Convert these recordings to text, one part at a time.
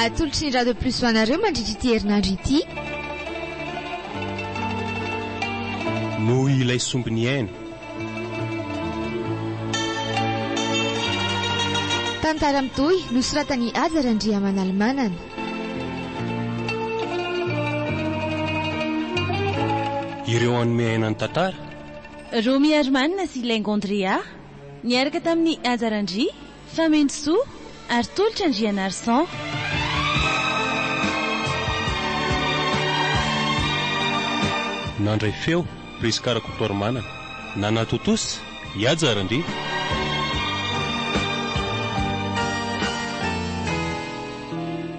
Atolotry ny Radio Plus ho anareo mandritra ity herinandro ity. Noho ilay sombiny aina. Tantara mitohy nosoratan'i Haja Randriamanalomanana. Ireo hanome aina ny tantara. Romy Herman sy Laingo Andrea, niaraka tamin'i Haja Randria, Famentrosoa ary tolotra Andrianarison. Nandray feo, Prisca Rakotoarimanana. Nanatontosa, Ihaja Randria.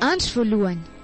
Andro voalohany.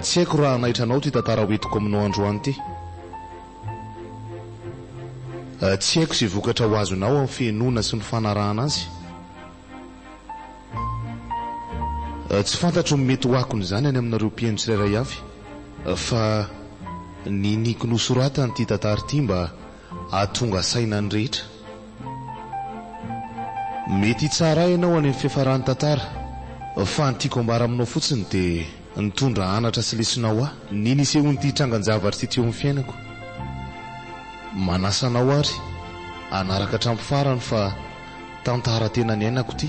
Tsy haiko raha hanaitra anao ity tantara ho entiko aminao androany ity. Tsy haiko izay vokatra ho azonao amin'ny fihenoana sy ny fanarahana azy. Tsy fantatro ny mety ho akony izany any aminareo mpihaino tsirairay avy fa niniako nosoratana ity tantara ity mba Hahatonga saina ny rehetra. Mety hitsara ahy ianao any amin'ny fiafaran'ny tantara, fa ny tiako ambara aminao fotsiny dia nitondra anatra sy lesona ho ahy. Ny nisehoan'ity trangan-javatra ity teo amin'ny fiainako. Manasa anao àry hanaraka hatramin'ny farany fa tantara tena niainako ity.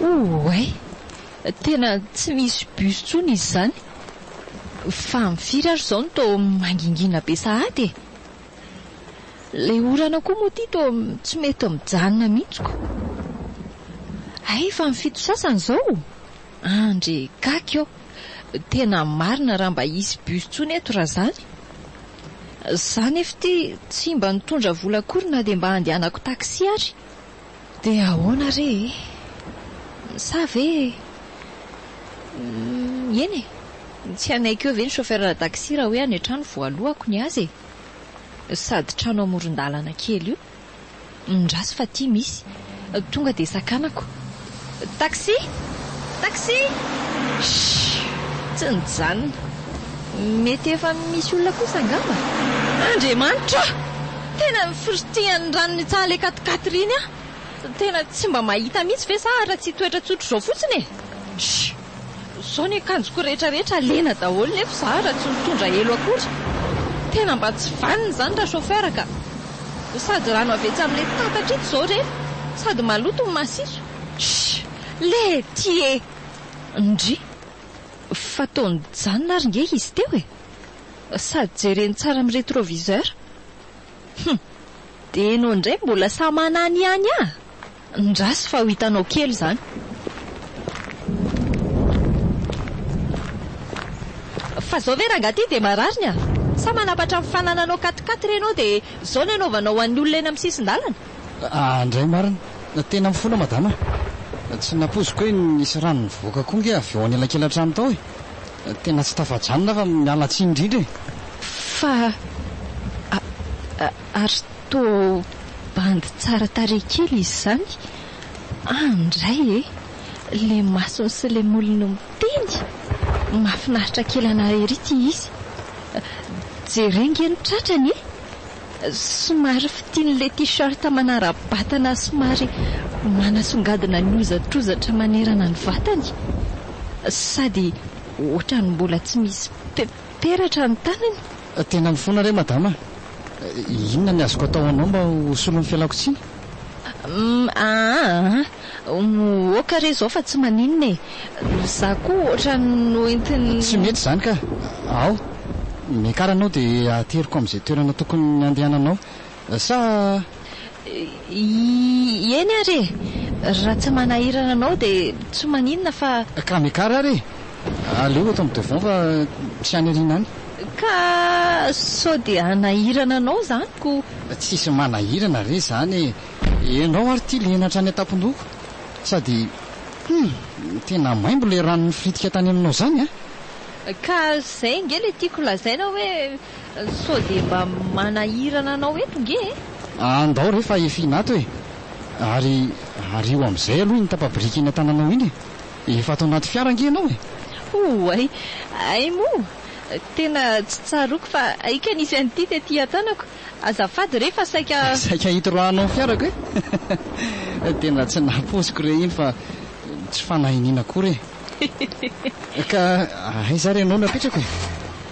Ouai! Tena tsy misy bus tsony izy zany. Fa am firy ary zao no to mangingina be sahady e! Ilay orana koa moa ity toa tsy mety mijanona mihitsy ko. Hay efa ny fito sasany izao? Andry gaga eo. Tena marina raha mba hisy bus intsony eto raha izany. Za nefa ity tsy mba nitondra vola akory na dia mba handehanako taxi ary. Dia ahoana re e? Sa ve Hum, eny e! Tsy hanaiky eo ve ny chauffeur taxi raha hoe any an-trano voalohako ny azy e? Sady trano amoron-dalana kely io. Mindraso fa aty misy. Tonga dia sakanako. Taxi! Taxi! Shhh! Tsy nijanona. Mety efa misy olona kosa angamba? Andriamanitra o! Tena nifiritrihan'ny ranon'ny tsaha ilay katikaty ireny aho. Tena tsy mba mahita mihitsy ve za raha tsy hitoetra tsotra izao fotsiny e! Shhh! Zao ny akanjoko rehetra rehetra lena daholo nefa za ra tsy mitondra elo akory tena mba tsy vanona izany ra chauffeur ka! Sady rano avy etsy amle tatatra etsy zao re sady maloto ny masiso shhh le ty e! Ndry! Fa toa nijanona ary nge izy teo e! Sady jereny tsara am retroviseur! Hum! Deno ndray mbola samananiany ah! Ndraso fa ho hitanao kely izany. Fa zao ve rangah ty dia marary ny ahy? Sa manapatra ny fanananao katikaty re ianao dia zao ny anaovanao ho an'ny olona eny amin'ny sisin-dalana? Aah ndray marina. Tena mifona madama a. Tsy nampoiziko hoe nisy rano nivoaka koa ange avy ao anelakelan-trano tao e. Tena tsy tafajanona aho fa miala tsiny indrindra e. Fa a. Ary toa bandy tsara tarehy kely izy izany. Any indray e! Ilay masony sy ilay molony no miteny! Mahafinaritra kely anà ery ity izy. Jereo ange ny tratrany e! Somary fitian'ilay t-shirt manara-batana somary manasongadina ny hozatrozatra manerana ny vatany. Sady ohatran'ny mbola tsy misy pe-peratra ny tanany. Tena mifona re madama a! Inona ny azoko atao ho anao mba ho solon'ny fialako tsiny? Umm aa umm ok re izao fa tsy maninona e! Za koa ohatrany noentin'ny. Tsy mety izany ka! Ao! Miakara anao dia ateriko amin'izay toerana tokony handehananao. Sa i. Eny ary e! Raha tsy manahirana anao dia tsy maninona fa. Ka miakara ary e! Aleo eto amin'ny devant fa tsy any aoriana any. Ka sao dia hanahirana anao izany ko. Tsisy manahirana re izany e! Ianao ary ity lena hatrany an-tampon-dohako. Sady hum! Tena maimbo ilay ranon'ny firitika tany aminao izany a! Ka izay ange ilay tiako lazaina hoe. Sao dia mba manahirana anao eto nge e! Andao re fa efiana ato e! Ary ario amin'izay aloha iny tapa-biriky eny an-tananao iny e! Efa ato anaty fiara ange ianao e! Oay! Hay moa! Tena tsy tsaroako fa hay ka nisy an'ity tety an-tanako! Azafady re fa saika. Saika hitroahanao ny fiarako e! Tena tsy nampoiziko re iny fa tsy fanahiniana akory e! Ka aiza ary ianao no apetrako e?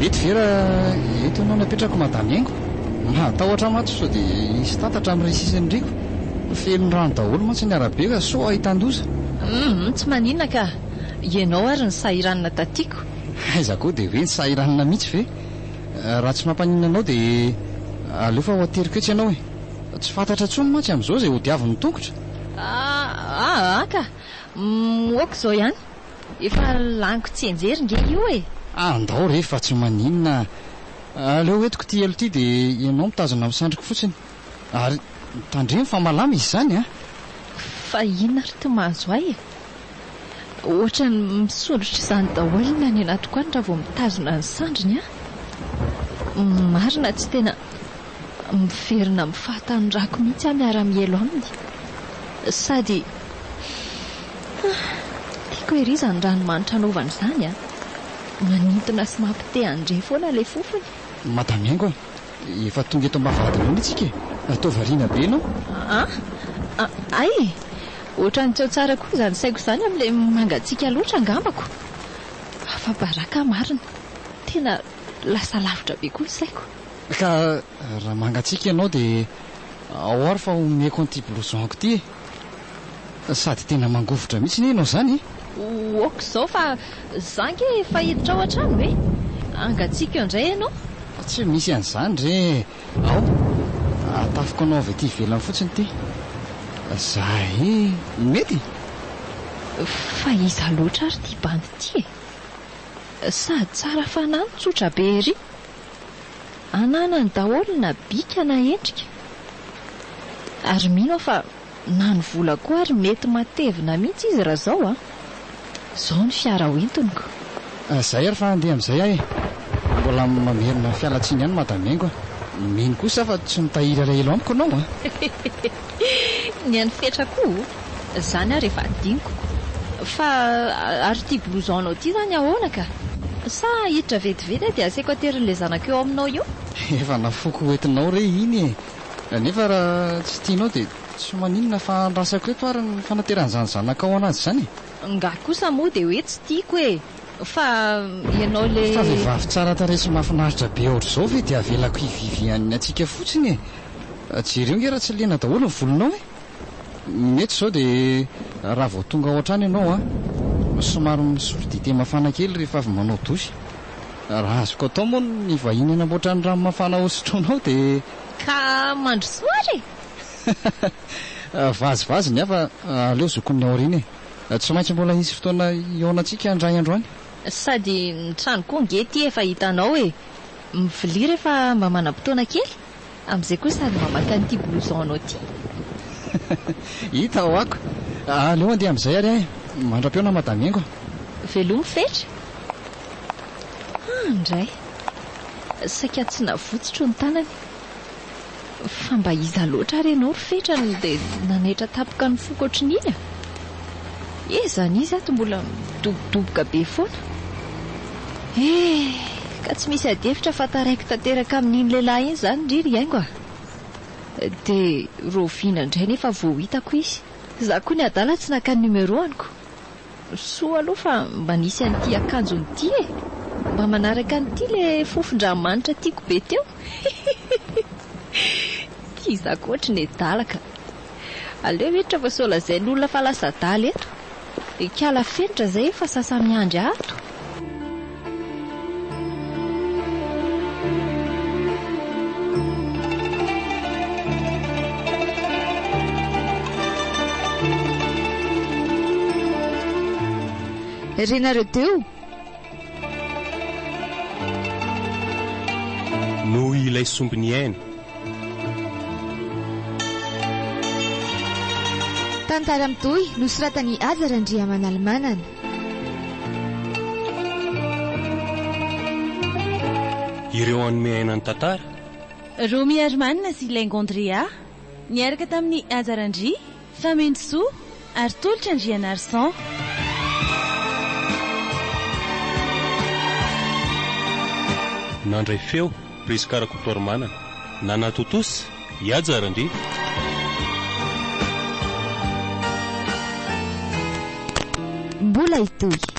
Mety ve raha eto ianao no apetrako madame Engo? Mahatahotra maty sao dia hisy tatatra amin'ny rihisa sy ny riaka. Feno rano daholo mantsy ny arabe ka sao ahitan-doza. Humm tsy maninona ka! Ianao ary no sahiranina tatiako. Aiza koa dia hoe ny sahiranina mihitsy ve? Raha tsy mampaninona anao dia aleo fa ho ateriko etsy ianao e! Tsy fantatra intsony mantsy amin'izao izay hodiavin'ny tongotra. Aa ka! Moako izao ihany. Efa laniko tsianjery nge io e! Andao re fa tsy maninona. Aleo entiko ity elo ity dia ianao mitazona amin'ny sandriko fotsiny. Ary tandremo fa malama izy izany an! Fa inona ary ity mahazo ahy e! Ohatran'ny misondrotra izany daholo ny any anatiko any raha vao mitazona ny sandriny an! Marina tsy tena miverina amin'ny fahatanorako mihitsy aho miara-mielo aminy. Sady tiako ery izany ranomanitra anaovany izany an! Manintona sy mampite handre foana ilay fofony. Madame Engo a! Efa tonga eto am-bavahadinao mihitsika e! Atao variana be ianao. Ah? Hay e! Ohatran'ny tsy ao tsara koa izany saiko izany amin'ilay mangatsiaka loatra angambako. Afa-baraka marina. Tena lasa lavitra be koa ny saiko. Ka raha mangatsiaka ianao dia ao ary fa omeko an'ity blouson-ko ity e! Sady tena mangovitra mihitsy anie ianao izany e! Oak izao fa za ange efa hiditra ao an-trano e! Hangatsiaka eo indray ianao. Tsy misy an'izany re! Ao, atafiko anao avy aty ivelany fotsiny ity. Za e! Mety? Fa iza loatra ary ity bandy ity e? Sady tsara fanahy no tsotra be ery. Ananany daholo na bika na endrika. Ary mino aho fa na ny vola koa ary mety matevina mihitsy izy raha izao an! Izao ny fiara hoentiniko. Izay ary fa andeha amin'izay aho e! Mbola mamerina fialantsiny ihany Madame Engo a! Mino kosa aho fa tsy mitahiry alahelo amiko ianao an! Ny an'i Fetra koa oh! Zany ary efa adinoko. Fa ary ity blouson-nao ity zany ahoana ka? Sa hiditra vetivety aho dia asaiko aterin'ilay zanako eo aminao io? Efa nafoiko ho entinao re iny e! Nefa raha tsy tianao dia tsy maninona fa andrasako eto ary ny fanateran'izany zanakao anazy izany e! Ngah kosa moa dia hoe tsy tiako e! Fa ianao le. Fa vehivavy tsara tarehy sy mahafinaritra be ohatr'izao ve dia avelako hi Viviane antsika fotsiny e? Jereo nge raha tsy lena daholo ny volonao e? Mety izao dia raha vao tonga ao an-trano ianao an, somary misotro dite mafana kely rehefa avy manao douche. Raha azoko atao moa ny vahiny hanamboatra ny rano mafana hosotroinao dia. Ka mandrosoa ary e! Vazivazy ny hafa, aleo zokin'ny aoriana e! Tsy maintsy mbola hisy fotoana hihaonantsika indray andro any. Sady ny trano koa ange ity efa hitanao e! Mivilia rehefa mba manam-potoana kely, amin'izay koa sady mba maka an'ity blouson-nao ity. Hita ho ako. Aleo handeha amin'izay ary aho e! Mandra-peo na Madame Engo. Velomy fetra. Hah, indray! Saika tsy navotsotro ny tanany. Fa mba iza loatra ary ianao ry Fetra no dia nanaitra tampoka ny foko ohatrin'iny a! He izany izy ato mbola midobodoboka be foana. He, ka tsy misy adihevitra fa taraiky tanteraka amin'iny lehilahy iny izany ndry ry Haingo a! Dia raoviana indray nefa vao hitako izy? Izaho koa ny adala tsy naka ny numéro-any ko! Soa aloha fa mba nisy an'ity akanjony ity e! Mba manaraka an'ity ilay fofon-dramanitra tiako be teo hihihihhih! Tia zaka ohatry ny adala ka! Aleo hiditra fa sao lazain'olona fa lasa adala eto! Ikala fenitra zay fa sasa miandry ato! Renareo teo? Noho ilay sombiny aina. Tantara mitohy nosoratan'i Aja Randriamanalimanana. Ireo hanome aina ny tantara. Romy Herman sy Laingo Andrea niaraka tamin'i Haja Randria, Famenosoa, ary Tolotra Andrianarison. Nandray feo Prisca Rakotoarimanana, nanatontosa i Haja Randria. Mbola hitohy.